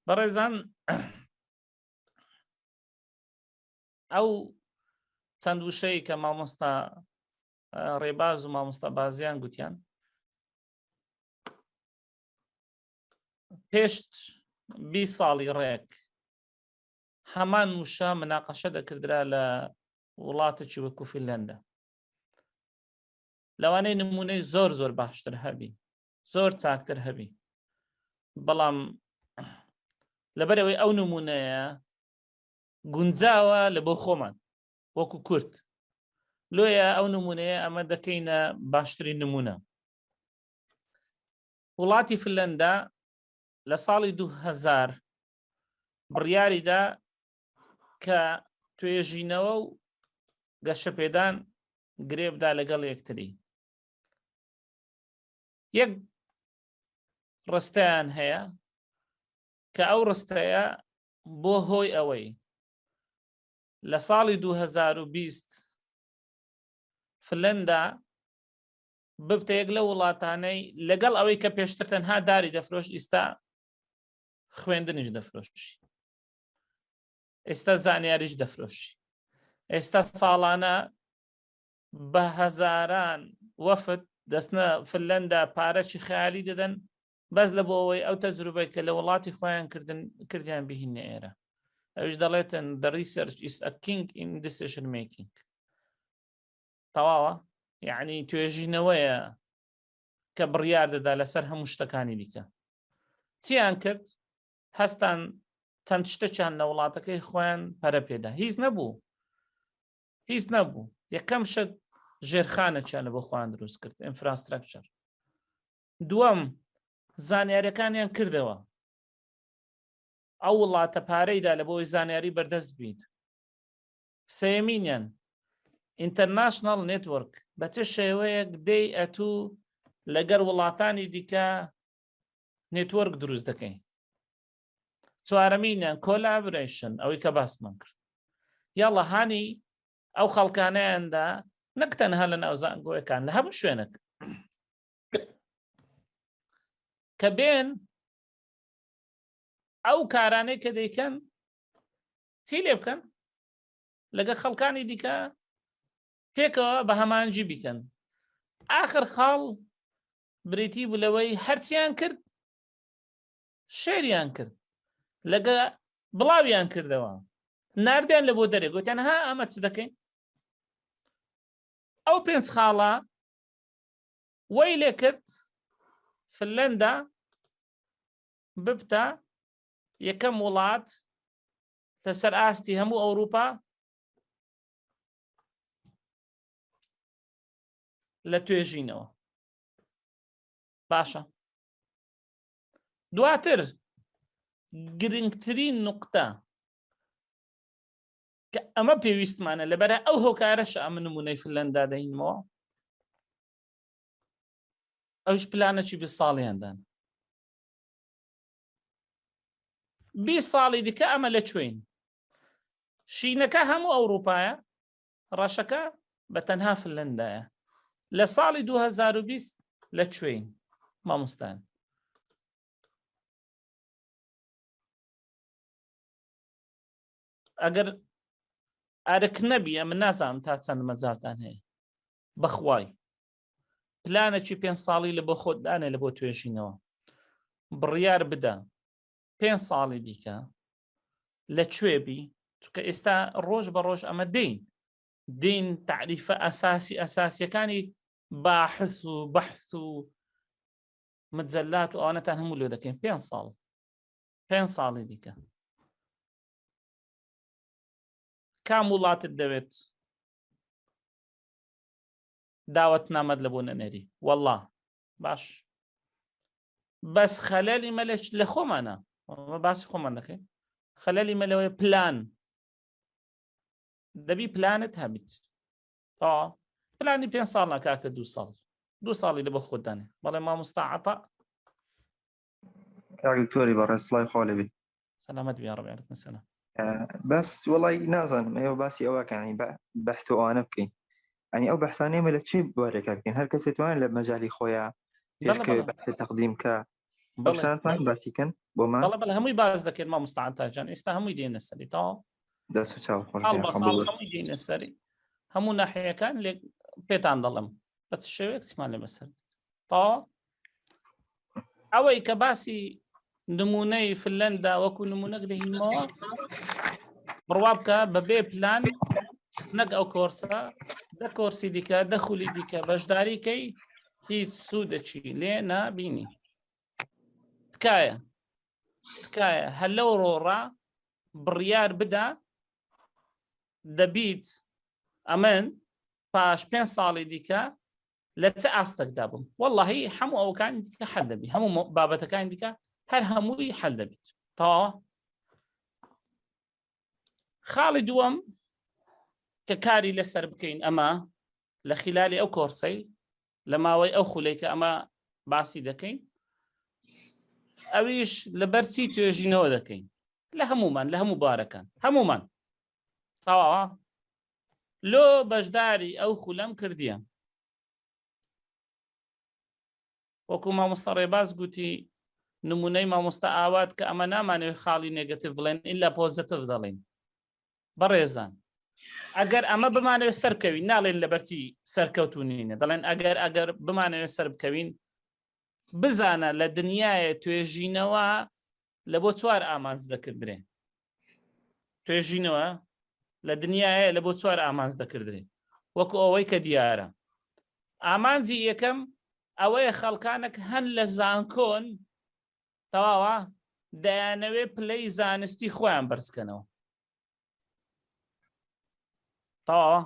بەڕێزان ئەو چەند وشەیە کە مامۆستا ڕێباز و مامۆستا بازیان گوتیان پێشت بی ساڵی ڕێک هەمان وشە مناقەشە دەکردرا لە وڵاتێکی وەکو فیلەندە لەوانەی نمونەی زۆر زۆر باشتر هەبی زۆر چاکتر هەبی بەڵام لەبەرەوەی ئەو نمونەیە گونجاوە لە بۆ خۆمان وەکو کورت لۆیە ئەو نمونەیە ئەمە دەکەینە باشترین نمونە وڵاتی فلەندا لە ساڵی 2000 بڕیاریدا کە توێژینەوە و گەشەپێدان گرێبدا لەگەڵ یەکتری یەک ڕستەیان هەیە کە ئەو ڕستەیە بۆ هۆی ئەوەی لە ساڵی 2020 فلەندا ببتە یەک لە وڵاتانەی لەگەڵ ئەوەی کە پێشتر تەنها داری دەفرۆش ئیستا خوێندنیش دەفرۆشی ئێستا زانیاریش دەفرۆشی ئێستا ساڵانە بە هەزاران وەفد دەستنە فلەندا پارەی خیالی دەدەن بەس لە بۆ ئەوەی ئەو تەجروبەی کە لە وڵاتی خۆیان کردن کردیان بهین ئێرە ئەوش دەڵێتن دە ریسەرچ ئیسکینگ ئیندسشن مێکینگ تەواوە یعنی توێژینەوەیە کە بڕیار دەدا لەسەر هەموو شتەکانی دیکە چیان کرد هەستان چەند شتەکیان لە وڵاتەکەی خۆیان پەرە پێدا هیچ نەبوو هیچ نەبوو یەکەم شت ژێرخانەکیانە بۆ خۆیان دروست کرد ئینفراستراکچەر دووەم زانیارەکانیان کردەوە ئەو وڵاتە پارەیدا لە بۆی زانیاری بەردەست بیت سێمینیان ئینتەرناشنال نێتوەرک بە چ شێوەیەک دەی ئەتوو لەگەر وڵاتانی دیکە نێتوەرک دروست دەکەین چوارەمینیان کۆلابرشن ئەوەی کە باسمان کرد یاڵە هاانی ئەو خەڵکانیاندا نەک تەنها لە ناوزانگۆیەکان لە هەموو شوێنەک کە بێن ئەو کارانەی کە دەیکەن چی لێ بکەن لەگە خەڵکانی دیکە پێکەوە بە هەمانجی بیکەن آخر خاڵ بریتی بوو لەوەی هەرچیان کرد شعریان کرد لەگە بڵاویان کردەوە نردیان لە بۆ دەرێ گوتیان ها ئەمە چ دەکەین ئەو پێنج خاڵە وەی لێ کرد فلەندا ببتە یەکەم وڵات لەسەر ئاستی هەموو ئەوروپا لە توێژینەوە باشە دواتر گرنگترین نقطە کە ئەمە پێویستمانە لەبەر ئەو هۆکارەش ئەم نمونەی فلەندا دەینەوە ئەوش پلانەکی بە ساڵیاندان بی ساڵی دیکە ئەمە لە کوێین شینەکە هەموو ئەوروپایە ڕەشەکە بە تەنها فنلەندایە لە ساڵی 2020 لە کوێین مامۆستان ئەگەر ئەرک نەبیە من نازانم تا چەند مەجارتان هەیە بەخوای پلانەکی پێنج ساڵی لە بۆ خۆت دانێ لە بۆ توێژینەوە بڕیار بدە پێنج ساڵی دیکە لە کوێ بی چکە ئێستا ڕۆژ بە ڕۆژ ئەمە دین دین تعریفە ئەساسی ئەساسیەکانی باحث و بەحث و مجلات و ئەوانەتان هەموو لێ دەکەین پێ ساڵ پێ ساڵی دیکە کام وڵاتت دەوێت داوت نامەد لە بۆ نەنێری والله باش بەس خەلەلی مە لە خۆمانە باسی خۆمان دەکەین خەلەلی مە لەوەی پلان دەبی پلانت هەبیت تا پلانی پێ ساڵ ناکاکە دو ساڵ دو ساڵی لە بە خۆدانێ بەڵێ مامۆستاعتا کاک دکتۆری بەڕێز سڵای خوا لێبی سەلامەت بیا ڕەبی علیکم سەلام بەس وڵی نازانم ئێوە باسی ئەوەکانی بە بەحت و ئەوانە بکەین ئەنی ئەو بەحسان ئێمە لە چی بوارێکە بکەین هەر کەسێت توان لە مەجای خۆیان پێشکەوێت بەحت تەقدیم کە بەسانتان باسیکەن بۆمان بەڵە بەڵە هەمووی باز دەکرێت ما مستعاتاجان ئێستا هەمووی دێنە سەری تا دەست چاو خۆش هەمووی دێنە سەری هەموو ناحەیەەکان لێک پێتان دەڵم بەس شێوەیەک سیمان لە بەسەر تا ئەوەی کە باسی نمونەی فلەندا وەکو نمونە گرهینمەوە بڕوا بکە بەبێ پلان نەک ئەو کۆرسە دە کۆرسی دیکە دەخولی دیکە بەشداریکەی هیچ سوودەچی لێ نابینی تکایە تکایە هەر لەو ڕۆڕا بڕیار بدا دەبیت ئەمن پاش پێ ساڵی دیکە لە چ ئاستەکدا بم واللهی هەموو ئەوکانی دیکە حل دەبی هەموو بابەتەکانی دیکە هەر هەمووی حل دەبیت تەواوە خاڵی دووەم کە کاری لەسەر بکەین ئەمە لە خلالی ئەو کۆرسەی لە ماوەی ئەو خولەی کە ئەمە باسی دەکەین ئەویش لەبەرچی توێژینەوە دەکەین لە هەمومان لە هەموو بارەکان هەمومان تەواوە لۆ بەشداری ئەو خولەم کردیە. وەکو مامۆستا ڕێباز گوتی نمونەی مامۆستا ئاوات کە ئەمە نامانەوێت خاڵی نێگەتیڤ بڵێن ئیلا پۆزەتیڤ دەڵێین بەڕێزان ئەگەر ئەمە بمانەوێت سەر بکەوین ناڵێن لەبەرتی سەرکەوتونینە دەڵێن ئەگەر ئەگەر بمانەوێت سەر بکەوین بزانە لە دنیاە توێژینەوە لە بۆ چوار ئامانج دەکردرێ توێژینەوە لە دنیاە لە بۆ چوار ئامانج دەکردرێ وەکو ئەوەی کە دیارە ئامانجی یەکەم ئەوەیە خەڵکانێک هەن لە زانکۆن تەواوە دەیانەوێ پلەی زانستی خۆیان بەرزکەنەوە تەواوە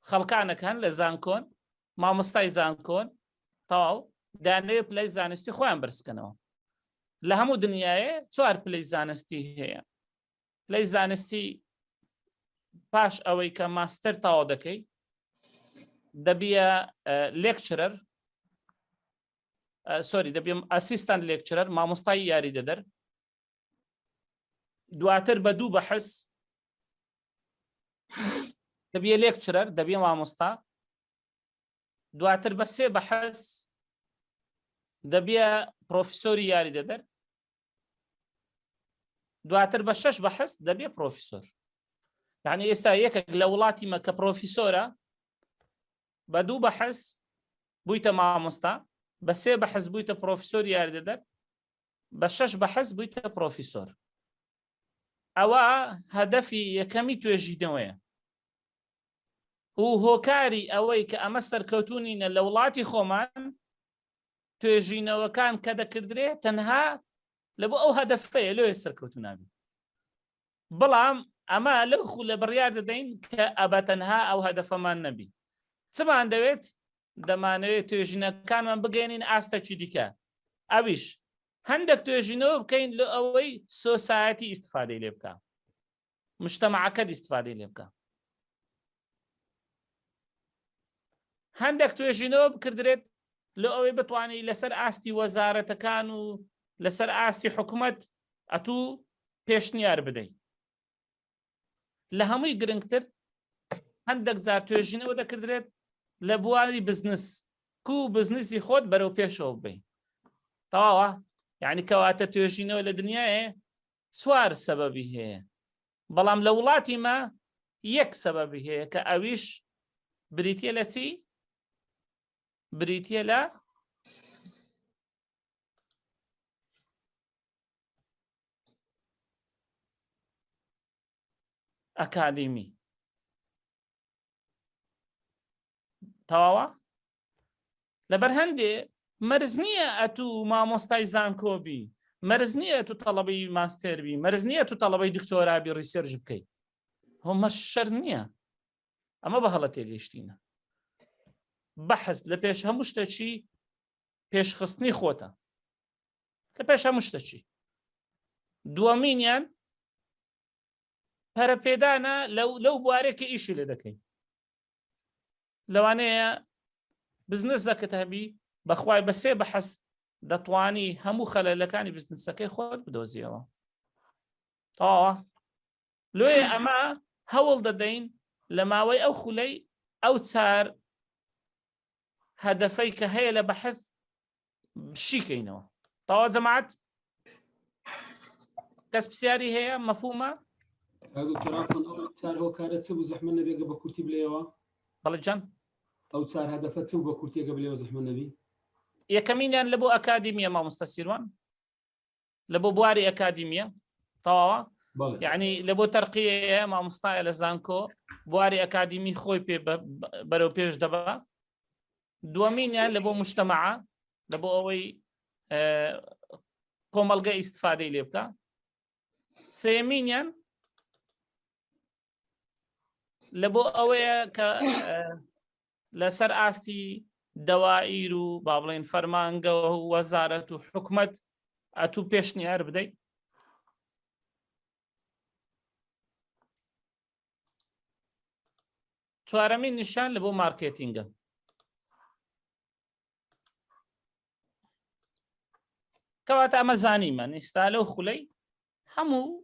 خەڵکانێک هەن لە زانکۆن مامۆستای زانکۆن تەواو دانوێ پلەی زانستی خۆیان برسکەنەوە لە هەموو دنیاە چوار پلەی زانستی هەیە پلەی زانستی پاش ئەوەی کە ماستەر تاوا دەکەی دەبیە لێکچرەر سۆری دەبیم ئەسیستان لێکچرەر مامۆستای یاری دەدەر دواتر بە دوو بەحس دەبێ لێکچرەر دەبێ مامۆستا دواتر بە سێ بەحس دەبێ پرۆفیسۆری یاری دەدەر دواتر بە شەش بەحس دەبێ پرۆفیسۆر یعنی ئێستا یەکێک لە وڵاتی مە کە پرۆفیسۆرە بە دوو بەحس بوویتە مامۆستا بە سێ بەحس بوویتە پرۆفیسۆر یاردەدەر بە شەش بەحس بوویتە پڕۆفیسۆر. ئەوە هەدەفی یەکەمی توێژینەوەیە و هۆکاری ئەوەی کە ئەمە سەرکەوتونینە لە وڵاتی خۆمان توێژینەوەکان کە دەکردرێ تەنها لە بۆ ئەو هەدەفەیە لۆیە سەرکەوتونابی بەڵام ئەمە لەو خو لە بڕیار دەدەین کە ئەبە تەنها ئەو هەدەفەمان نەبی چمان دەوێت دەمانەوێت توێژینەکانمان بگەێنین ئاستەکی دیکە ئەویش هەندێک توێژینەوە بکەین لە ئەوەی سۆسایەتی ئیسفادەی لێ بکە مشتەماعەکە دیستفادەی لێ بکە هەندێک توێژینەوە بکردرێت لە ئەوەی بتوانانی لەسەر ئاستی وەزارەتەکان و لەسەر ئاستی حکوومەت ئەتوو پێشنیار بدەیت لە هەمووی گرنگتر هەندێک جار توێژینەوە دەکردرێت لە بواری بزنس کو بزنسی خۆت بەرەو پێشەوە بین تەواوە یعنی کەواتە توێژینەوە لە دنیاە چوار سەبەبی هەیە بەڵام لە وڵاتی مە یەک سەبەبی هەیە کە ئەویش بریتە لە چی بریتە لە ئەکادیمی تەواوە لەبەر هەندێ مەرز نییە ئەتوو مامۆستای زانکۆبی مەرز نییە تو تەڵەبی ماستێربی مەرز نییە تو تەڵەبەی دکتۆرابی ڕیسێرژ بکەیت هۆمە شەر نییە ئەمە بە هەڵە تێگەیشتینە بەحز لە پێش هەموو شتەچی پێشخستنی خۆتە لە پێش هەموو شتەچی دووەمینیان پەرەپێدانە لەو لەو بوارێکی ئیشی لێ دەکەین لەوانەیە بزنسەکەت هەبی بەخوای بە سێ بەحەس دەتوانی هەموو خەلەلەکانی بزنسەکەی خۆت بدۆزیەوە تاوە لێ ئەمە هەوڵ دەدەین لە ماوەی ئەو خولەی ئەو چار هەدەفەی کە هەیە لە بەحث شیکەینەوە تەوا جەماعەت کەس پرسیاری هەیە مەفومە چار هۆکارە چ بوو زەحمە نەبێگە بە کورتی بلێەوە بەڵێ جەن ئەو چار هەدەفە چ بە کورتێکە بلێەوە زەحمە نەبی یەکەمینیان لە بۆ ئەکادیمیە مامۆستا سیروان لە بۆ بواری ئەکادیمیە تەواوە یعنی لە بۆ تەرقیە مامۆستایە لە زانکۆ بواری ئەکادیمی خۆی پێ بەرەو پێش دەبا دووەمینیان لە بۆ مشتەمە لە بۆ ئەوەی کۆمەلگە ئیسفادەی لێ بکە سێمینیان لە بۆ ئەوەیە کە لەسەر ئاستی دەوائیر و با بڵێن فەرمانگەوە و وەزارەت و حکومت ئەتوو پێشنیار بدەیت چوارەمین نیشان لە بۆ مارکێتینگە کەواتە ئەمە زانیمە نیستا لەو خولەی هەموو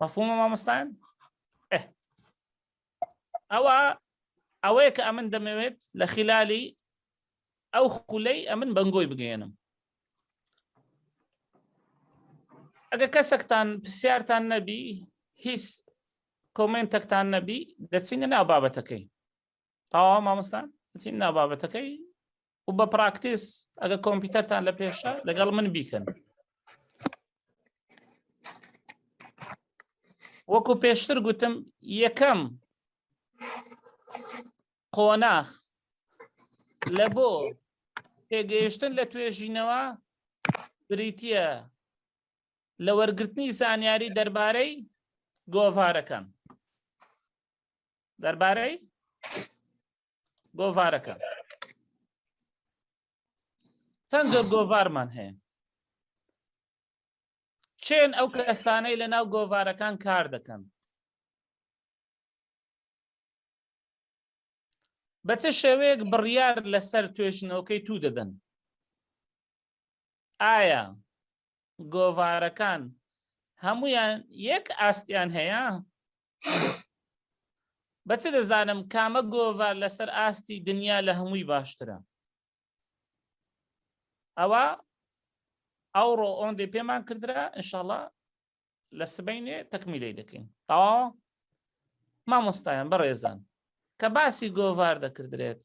مەفهومە مامۆستایان ئەوە ئەوەیە کە ئەمن دەمەوێت لە خلالی ئەو خولەی ئەمن بەنگۆی بگەێنم ئەگە کەسەکتان پرسیارتان نەبی هیچ کۆمنتەکتان نەبی دەچینە ناو بابەتەکەی تاوا مامۆستان دەچین ناو بابەتەکەی و بە پراکتیس ئەگە کۆمپیوتەرتان لە پێشە لەگەڵ من بیکەن وەکو پێشتر گوتم یەکەم قۆناخ لە بۆ تێگەیشتن لە توێژینەوە بریتە لە وەرگرتنی زانیاری دەربارەی گۆڤارەکان دەربارەی گۆڤارەکە چەند جۆر گۆڤارمان هەیە چێن ئەو کەسانەی لە ناو گۆڤارەکان کار دەکەن بە چ شێوەیەک بڕیار لەسەر توێژنەوەکەی تو دەدەن ئایا گۆڤارەکان هەمویان یەک ئاستیان هەیە؟ بە چ دەزانم کامە گۆڤار لەسەر ئاستی دنیا لە هەمووی باشترە ئەوە ئەوڕۆ ئۆندێ پێمان کردرا انشاءله لە سبینێ تەکمیلەی دەکەین تەوا مامۆستایان بەڕێزان کە باسی گۆڤار دەکردرێت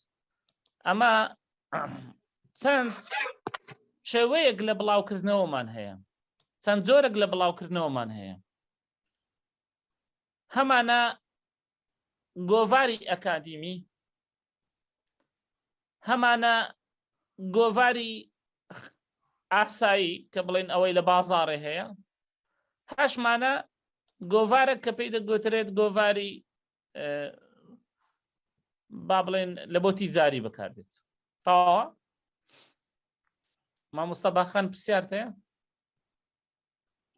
ئەمە چەند شێوەیەک لە بڵاوکردنەوەمان هەیە چەند جۆرەك لە بڵاوکردنەوەمان هەیە هەمانە گۆڤاری ئەکادیمی هەمانە گۆڤاری ئاسایی کە بڵێن ئەوەی لە بازارێ هەیە هەشمانە گۆڤارە کە پێی دەگوترێت گۆڤاری با بڵێن لە بۆ تیجاری بکاردێت تاوە مامۆستا باخان پرسیارتەیە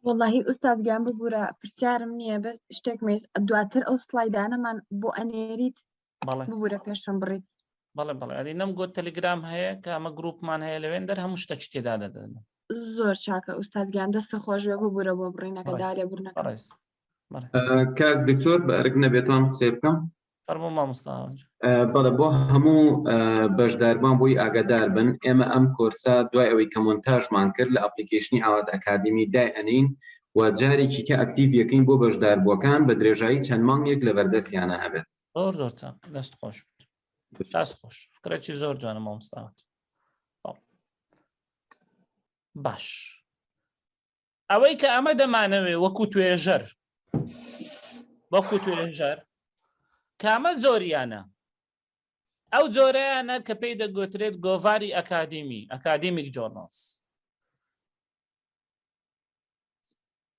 وەڵاهی ئوستاد گیان ببوورە پرسیارم نییە بە شتێک مێز دواتر ئەو سلایدانەمان بۆ ئەنێریت بەڵێ ببوورە پێشم بڕیت بەڵێ بەڵێ ئەدی نەم گۆت تەلگرام هەیە کە ئەمە گروپمان هەیە لەوێن دەر هەموو شتە چی تێدا دەدەن زۆر چاکە ئوستاد گیان دەستە خۆش بێ ببوورە بۆ بڕینەکە بەڕێز. دارێ بڕنەکە بەڕێز بەڕێز کاک دکتۆر بە ئەرک نەبێتان قسەی بکەم فەرموو مامۆستا ئاوەنجە. بەڵێ بۆ هەموو بەشداربان بووی ئاگادار بن ئێمە ئەم کۆرسە دوای ئەوەی کە مۆنتاژمان کرد لە ئەپلیکیشنی ئاوات ئەکادمی دای ئەنین و جارێکی کە ئەکتیڤ یەکەین بۆ بەشداربووەکان بە درێژایی چەند مانگێک لە بەردەستیانە هەبێت زۆر زۆر چاک دەست خۆش دەست خۆش فکرەی زۆر جوانە مامۆستاوت باش ئەوەی کە ئەمە دەمانەوێ وەکو توێژەر وەکو توێژەر کامە زۆریانە ئەو جۆرەیانە کە پێی دەگوترێت گۆڤاری ئەکادیمی ئەکادیمیک جۆرنۆس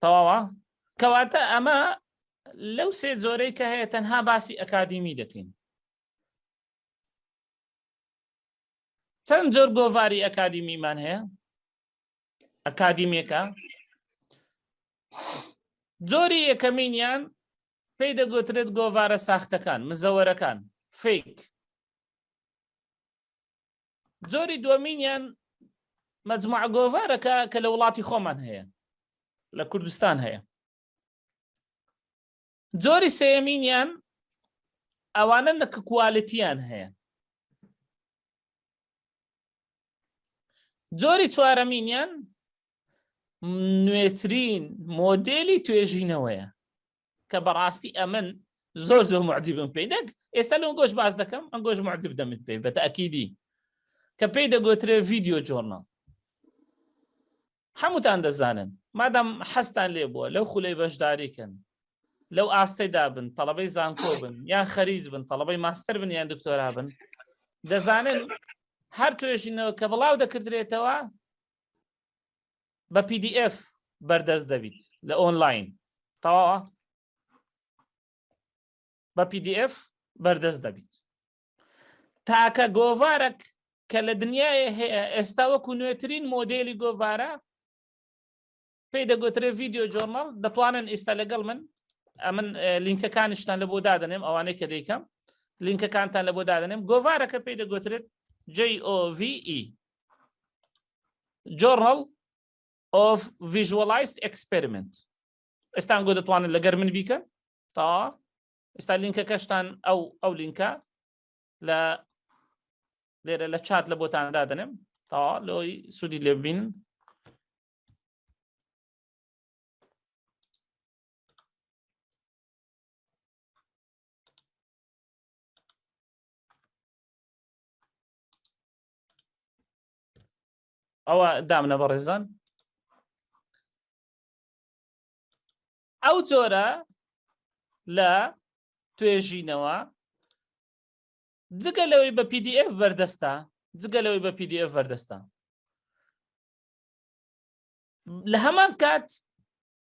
تەواوە کەواتە ئەمە لەو سێ جۆرەی کە هەیە تەنها باسی ئەکادیمی دەکەین چەند جۆر گۆڤاری ئەکادیمیمان هەیە ئەکادیمیەکە جۆری یەکەمینیان پێی دەگوترێت گۆڤارە ساختەکان مزەوەرەکان فیک جۆری دومینیان مەجموع گۆڤارەکە کە لە وڵاتی خۆمان هەیە لە کوردستان هەیە جۆری سێیەمینیان ئەوانە نە کە کوالتیان هەیە جۆری چوارەمینیان نوێترین مۆدلی توێژینەوەیە کە بەڕاستی ئەمن زۆر زۆر معجیبم پێی نەک ئێستا لەم گۆش باز دەکەم ئەم گۆش معجب دەمت پێی بەتە ئەکیدی کە پێی دەگوترێ ڤیددیو جۆرنال هەمووتان دەزانن مادام حەزتان لێ بووە لەو خولەی بەشداری کەن لەو ئاستەیدا بن تەڵەبەی زانکۆ بن یان خەریج بن تەڵەبەی ماستەر بن یان دکتۆرا بن دەزانن هەر توێژینەوە کە بڵاو دەکردرێتەوە بە PDF بەردەست دەبیت لە ئۆنلاین تەواوە بە PDF بەردەست دەبیت تاکە گۆڤارەک کە لە دنیاە هەیە ئێستا وەکو نوێترین مۆدلی گۆڤارە پێی دەگوترێ ڤیددیو جۆرنال دەتوانن ئێستا لەگەڵ من ئەمن لینکەکانیشتان لە بۆ دادنێم ئەوانەی کە دەیکەم لینکەکانتان لە بۆ دادنێم گۆڤارەکە پێی دەگوترێت JOVE Journal of Visualized Experiment ئێستان گۆ دەتوانن لەگەر من بیکەن تا ئستا لینکەکەشتان ئەو ئەو لینکە لە لێرە لە چات لە بۆتان دادنم تا لۆی سوودی لێبین ئەوە دامنە بەڕێزان ئەو جۆرە لە توێژینەوە جگە لەوەی بە PDF بەردەستە جگە لەوەی بە PDF بەردەستە لە هەمان کات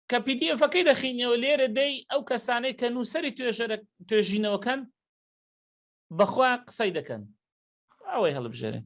کە پیدیفەکەی دەخینەوە لێرە دەی ئەو کەسانەی کە نووسری توێژەرە توێژینەوەکەن بەخوا قسەی دەکەن ئەوەی هەڵبژێرن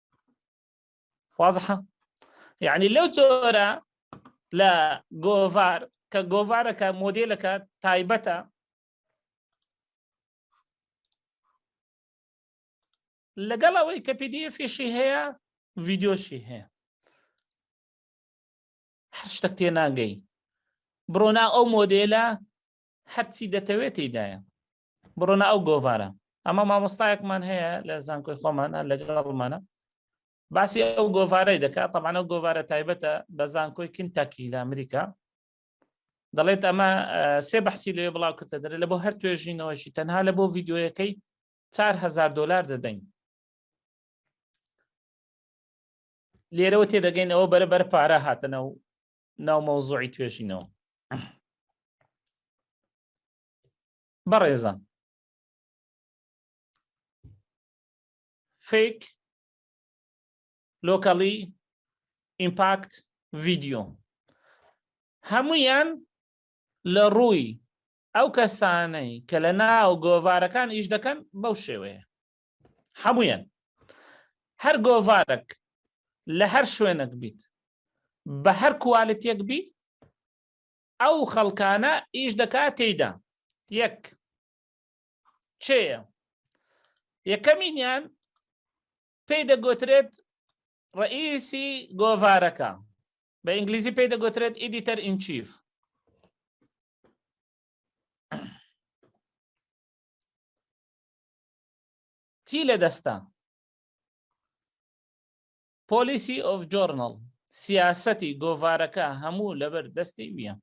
واضحە یعنی لەو جۆرە لە گۆڤار کە گۆڤارەکە مۆدلەکە تایبەتە لەگەڵ ئەوەی کە پدیفیشی هەیە ڤیددیۆشی هەیە هەر شتەک تێ ناگەی بڕۆنا ئەو مۆدلە هەرچی دەتەوێت تێدایە بڕۆنە ئەو گۆڤارە ئەمە مامۆستایەکمان هەیە لە زانکۆی خۆمانە لەگەڵمانە باسی ئەو گۆڤارەی دەکات تەمانە و گۆڤارە تایبەتە بە زانکۆی کنتاکی لە ئەمریکا دەڵێت ئەمە سێ بەحسی لێ بڵاو کردە دەرێت لە بۆ هەر توێژینەوەشی تەنها لە بۆ ڤیددیوەکەی 4هزار دلار دەدەین لێرەوە تێدەگەین ئەوە بەرە بەر پارە هاتنە و ناو مەوزۆی توێژینەوە بەڕێزان فیک لۆکەڵی ئیمپاکت ڤیددیو هەمویان لە ڕووی ئەو کەسانەی کە لە ناو گۆڤارەکان ئیش دەکەن بەو شێوەیە هەمویان هەر گۆڤارەک لە هەر شوێنەک بیت بە هەر کوالتێک بی ئەو خەڵکانە ئیش دەکا تێیدا یەک چێە یەکەمینیان پێی دەگوترێت ڕئیسی گۆڤارەکە بە ئینگلیزی پێی دەگوترێت ئیدیتەر ئینچیف چی لە دەستە Policy of Journal، سیاسەتی گۆڤارەکە هەموو لەبەر دەستی ویە.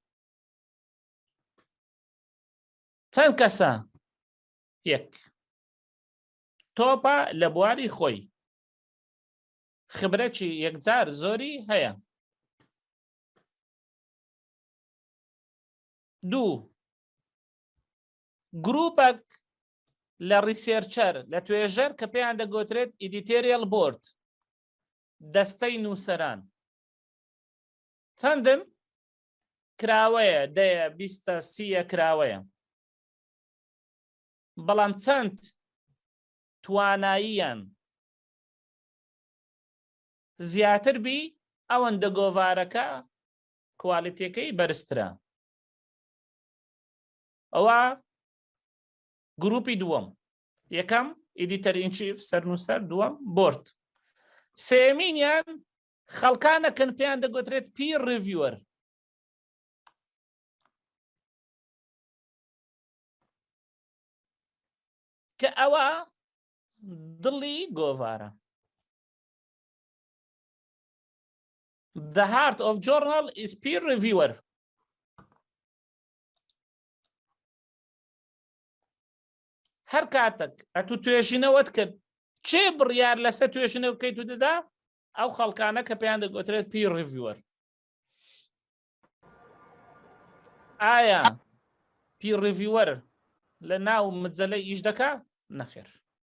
چەند کەسە؟ یەک. تۆپە لە بواری خۆی. خبرەکی یەکجار زۆری هەیە. دوو. گروپەک لە ڕیسێرچەر، لە توێژەر کە پێیان دەگۆترێت ئیدیتێریەڵ بۆرد، دەستەی نووسەران. چەندن؟ کراوەیە دەیە بیستە سیە کراوەیە. بەڵام چەند تواناییان زیاتر بی ئەوەندە گۆڤارەکە کوالیتەکەی بەرزترە. ئەوە گروپی دووەم یەکەم ئیدیتەر ئینچیف سەرنووسەر دووەم بۆرد سێمینیان خەڵکانەکەن پێیان دەگوترێت پی ڕڤوەر کە ئەوە دڵی گۆڤارە The heart of journal is peer reviewer هەر کاتەک ئەتو توێژینەوەت کرد چێ بڕیار لەسەر توێژنە بکەیت و دەدا ئەو خەڵکانە کە پێیان دەگوترێت پی ڕڤوەر ئایا پی ڕڤوەر لە ناو مجللە ئیش دەکا نەخێر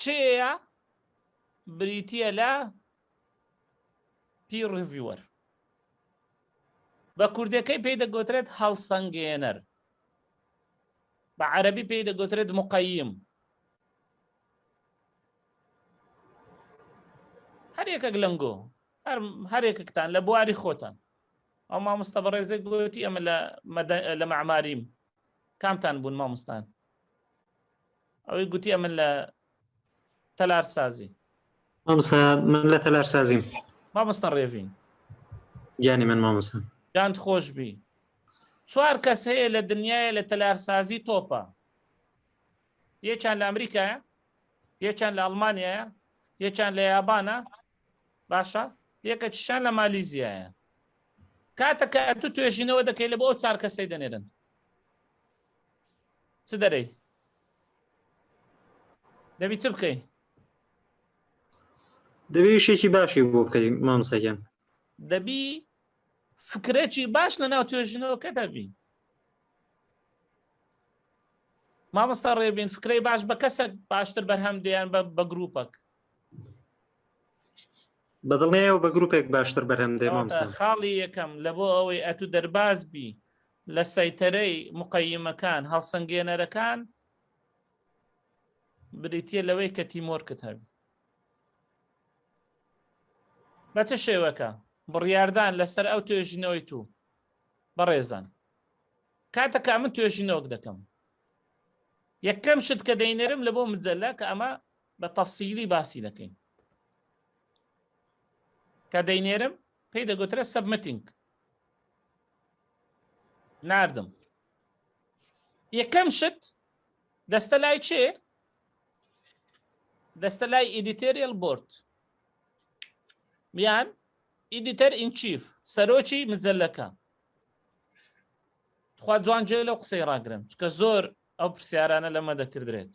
چێە بریتیە لە پی ڕڤوەر بە کوردەکەی پێی دەگوترێت هەڵسەنگێنەر بە عەربی پێی دەگوترێت مقیم هەر یەکەک لەنگۆ هەر یەکەکتان لە بواری خۆتان ئەو مامۆستا بەڕێزێک گوتی ئەمە لە مەعماریم کامتان بوون مامۆستان ئەوەی گوتی ئەمن لە تەلار سازی مامسا من لە تەلار سازیم مامۆستا ڕێڤین گیانی من مامۆستا گاند خۆش بی چوار کەس هەیە لە دنیاە لە تەلارسازی تۆپە یەکیان لە ئەمریکایە یەکیان لە ئەڵمانیایە یەکیان لە یابانە باشە یەکە چشان لە مالیزیایە کاتە کە ئەتو توێژینەوە دەکەی لە بۆ ئەو چار کەسەی دەنێرن چ دەرەی دەبی چ بکەی دەبێ وشێکی باشی بۆ بکەین مامسەکەم دەبی فکرێکی باش لە ناو توێژنەوەکە دەبی مامۆستا ڕێبین فکرەی باش بە کەسە باشتر بەرهەم دەیان بە گروپەک بەدڵنیایەوە بە گروپێک باشتر بەرهەم دێ مامسا خاڵی یەکەم لە بۆ ئەوەی ئەتو دەرباز بی لە سەیتەرەی مقەیمەکان هەڵسەنگێنەرەکان بریتە لەوەی کە تیمۆرکت هەبی بە چه شێوەکە بڕیاردان لەسەر ئەو توێژینەوەی تو بەڕێزان کاتەکە من توێژینەوەک دەکەم یەکەم شت کە دەینەرم لە بۆ مجللا کە ئەمە بە تەفسیلی باسی دەکەین کە دەینێرم پێی دەگوترە سەبمتینگ ناردم یەکەم شت دەستە لای چێ دەستە لای ئیدیتریل بۆرد میان ئیدیتەر ئینچیف سەرۆکی مجللەکە خوا جوان جێ لەو قسەی ڕاگرن چکە زۆر ئەو پرسیارانە لەمە دەکردرێت